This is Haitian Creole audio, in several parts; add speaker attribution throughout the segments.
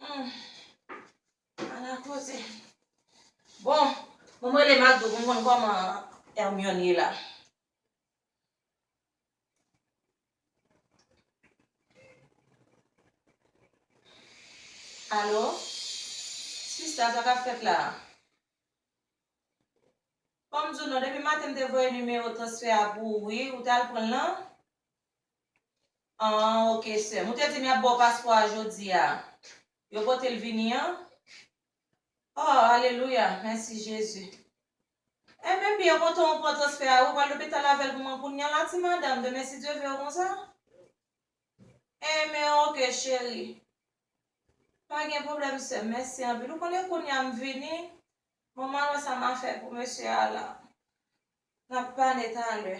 Speaker 1: Humm ala koze Bon pou m rele Macdo pou m konn kòman Hermione ye la Alo Sista sa k ap fèt la Fò m di w non depi maten m te voye nimewo transfè a pou ou wi ou t al pran l nan An ok sèm. Ou te di m y ap ba w paspò a jodi a. Yo pote l vini an? Oh alelouya mèsi Jezi. Enben byen kontan ou pran transfè a wi ou pral lopital avèl pou mwen kounya la ti madanm demen si Dye vew konsa enben ok cheri pa gen pwoblèm sèm mèsi anpil ou konnen kounya m vini bon m al wè sa m a fè pou mesye a la nap pale talè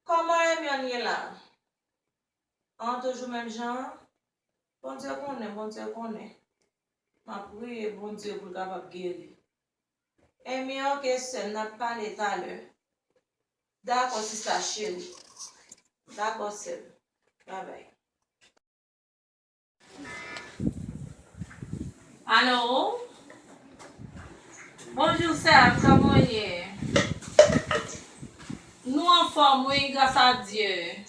Speaker 1: Kòman Hermione ye la an toujou menm jan an? Bondye konnen Bondye konnen Map priye Bondye poul kapab geri Hermie ok sèm nap pale talè Dakò sista cheri Dakò sèm Bye bye. Allo Bonjour Serge kòman w ye? Nou anfòm wi gras a Dye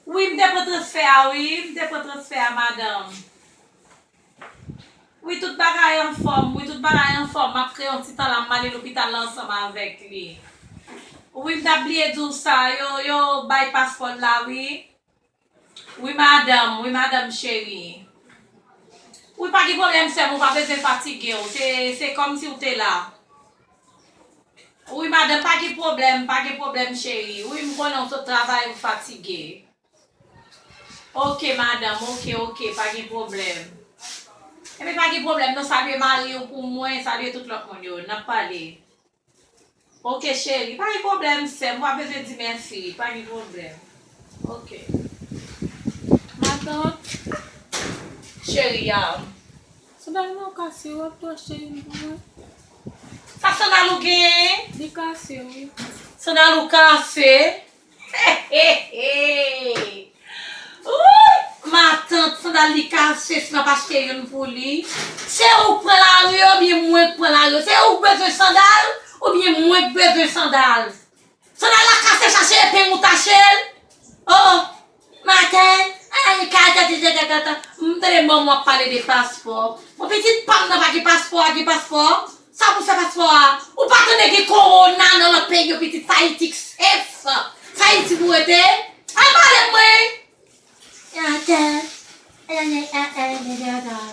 Speaker 1: Wi m te pran transfè a wi m te pran transfè a madanm Wi tout bagay anfòm wi tout bagay anfòm m ap fè yon ti tan la m ale lopital la ansanm avèk li Wi m t ap bliye di w sa yo bay paspò l la wi. Wi madanm, wi madanm cheri. Wi pa gen pwoblèm sèm ou pa bezwen fatigew se se kòmsi ou te la Wi madanm pa gen pwoblèm pa gen pwoblèm cheri wi m konnen ou t travay ou fatige Ok madanm ok ok pa gen pwoblèm Ebyen pa gen pwoblèm non salye mariw pou mwen salye tout lòt moun yo nap pale. Ok cheri pa gen problem sèm wap bezwen di merci pa gen problem ok ma
Speaker 2: tante
Speaker 1: cheri am.
Speaker 2: Sandal mwen kase wap tou achte youn pou mwen.
Speaker 1: Sa sandal ou genyen? Li kase wi.
Speaker 2: Sandal ou
Speaker 1: kase? Hehehehe Ooh matant sandal li kache si map achte youn pou li. Se ou k pran lari ou byen mwen k pran lari se ou k bezwen sandal ou byen mwen k bezwen sandal sandal la kase chache epeng ou tachel oh oh Maten, ala gen kal tèt li te tèt antan, m tande mòm w ap pale de paspò. Bon pitit pa m nan pa gen paspò a, gen paspò a? Sa pou l fè paspò a? Ou pa tande gen kowona nan lòt peyi yo pitit s Ayiti k sef, s Ayiti pou w rete. Al pale m mwen! Maten, ala gen kal tèt li te tèt antan.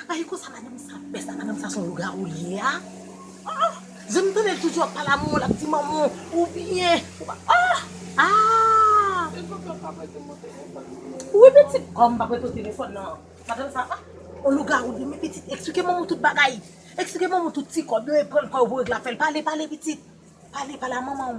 Speaker 3: Apa e konsa madanm sa ap fè sa madanm sa son lougawou li ye a ah zanmi m tande l toujou ap pale a manman l ap di manman w ou byen ou pa ah aah e fòk yo pa prete
Speaker 2: mwen telefòn nan wi pitit
Speaker 3: kòm m pa prete w telefòn nan madanm sa ah on lougawou li ye men pitit eksplike manman w tout bagay eksplike manman w tout ti kòb yo e pran kòb yo pou regle afè l pale pale pitit pale pale a manman w.